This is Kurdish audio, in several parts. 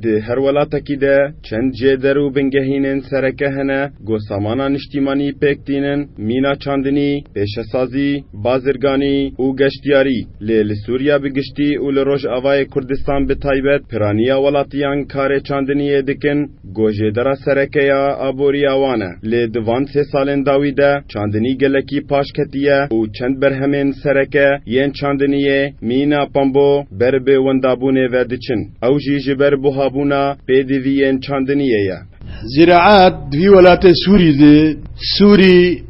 Di her welatekî de çend cêder û bingehînên sereke hene ku samana niştîmanî pêk tînin, mîna çandinî, pêşesazî, bazirganî û geştyarî. Lê li Sûriya bi giştî û li Rojavayê Kurdistan bi taybet piraniya welatiyan karê çandiniyê dikin. Gojêdera sereke ya aboriya wan e. Lê di van sê salên dawî de çandinî gelekî paş ketiye û çend berhemên sereke yên çandiniyê, mîna pambo, ber bi wendabûnê ve diçin. Ew jî ji ber buhabûna pêdiviyên çandiniyê ye. Ziraet di vî welatê Sûrî de, Sûrî,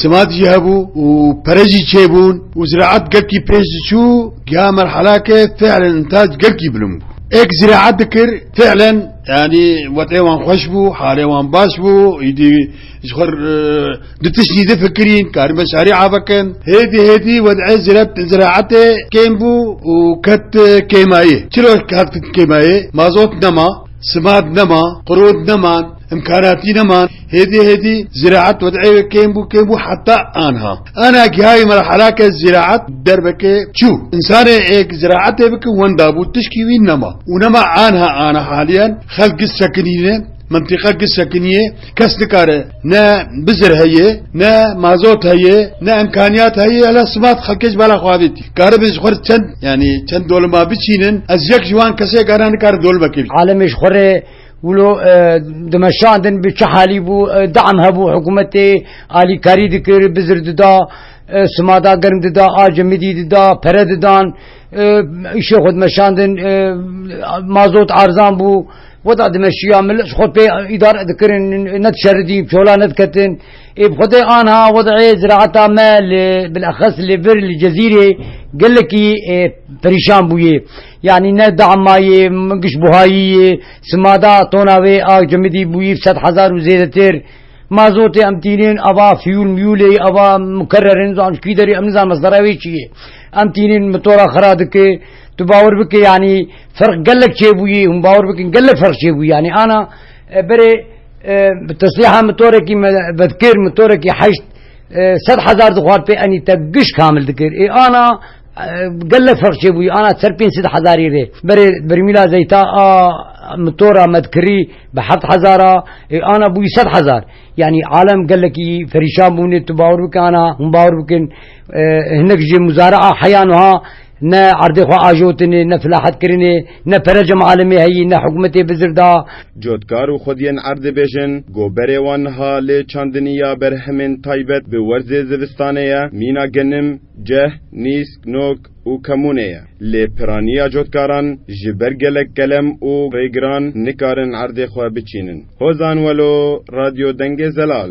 Simat jî hebû û pere jî çêbûn û ziraet gelkî pêş diçû giha merhelake fîelen întaj gelkî bilind bû. Ê ku ziraet dikir fîelen yanî wetê wan xweş bû, halê wan baş bû, îdî ji xwe du tiştî difikirîn karîn beşarî avekin. Hêdî hêdî wedê ziraetê kêm bû û ket kêmayê. Çilo hat kêmayê? Mazot nema, simat nema, qirot neman, îmkanatî neman. Hêdî hêdî ziraet wed'ê wê kêm bû kêm bû heta anha. Anha gihayê merhala ke ziraet derbekê çû. Însanê êk ziraetê bike wenda bû tişkî wî nema. Û nema anha ana haliyen xelk giz sekinîne, mintîqa giz sekinîyê, kes nikare ne bizir heye, ne mazot heye, ne imkanîyat heye hela simat xelkê ji bala xwe avêtî. Karibin ji xwe re çend yanî çend dolima biçînin ez yek ji wan kesêk ana nikare dolimekê bî. Alemê ji xwe re Wilo dimeşandin bi çi halî bû deam hebû hikûmetê alîkarî dikir bizir dida simada germ dida ace midî dida pere didan îşê xwe dimeşandin mazot arzan bû weda dimeşiya millet ji xwe pê îdare dikirin ne dişeridîn çola nediketin ê bi xwedê anha wedeyê ziraeta me li bilexes li vir li cezîrê gelekî perîşan bûye. Yanî ne dama yê gişbuhayî yê, sima da tona wê a cimidî bûyî sed hezar û zêdetir. Mazotê em tînin ava fiyûl miyûlê ava mukerrer in zan ji kî derê em nizanin mesdera wê çi yê. Em tînin mitora xira dike. Tu bawer bike yanî ferq gelek çêbûyî hûn bawer bikin gelek ferq çêbûyî yanî ana berê bi teslîha mitorekî me vedkir mitorekî heşt sed hezar dixwar pê enî te giş kamil dikir. Ê ana Gelek ferq çêbûyî ana ser pênc sed hezarî rê. Berê bermîla zeyta a mitora medkirî bi heft hezar a, ê ana bûyî sed hezar. Yanî alem gelekî perîşan bûne tu bawer bike ana hûn bawer bikin hinek ji muzari'a heya nuha ne erdê xwe ajotinê, ne filahet kirinê, ne pere cem alemê heyî, ne hikûmetê bizir da. Cotkar û xwediyên erd dibêjin ku berê wan niha lê çandinî ya berhemên taybet bi werzê zivistanê ye, mîna genim, Ceh, nîsk, nok û kemûnê ye. Lê piraniya cotkaran ji ber gelek kelem û rêgiran nikarin erdê xwe biçînin. Hozan Welo, Radyo Dengê Zelal.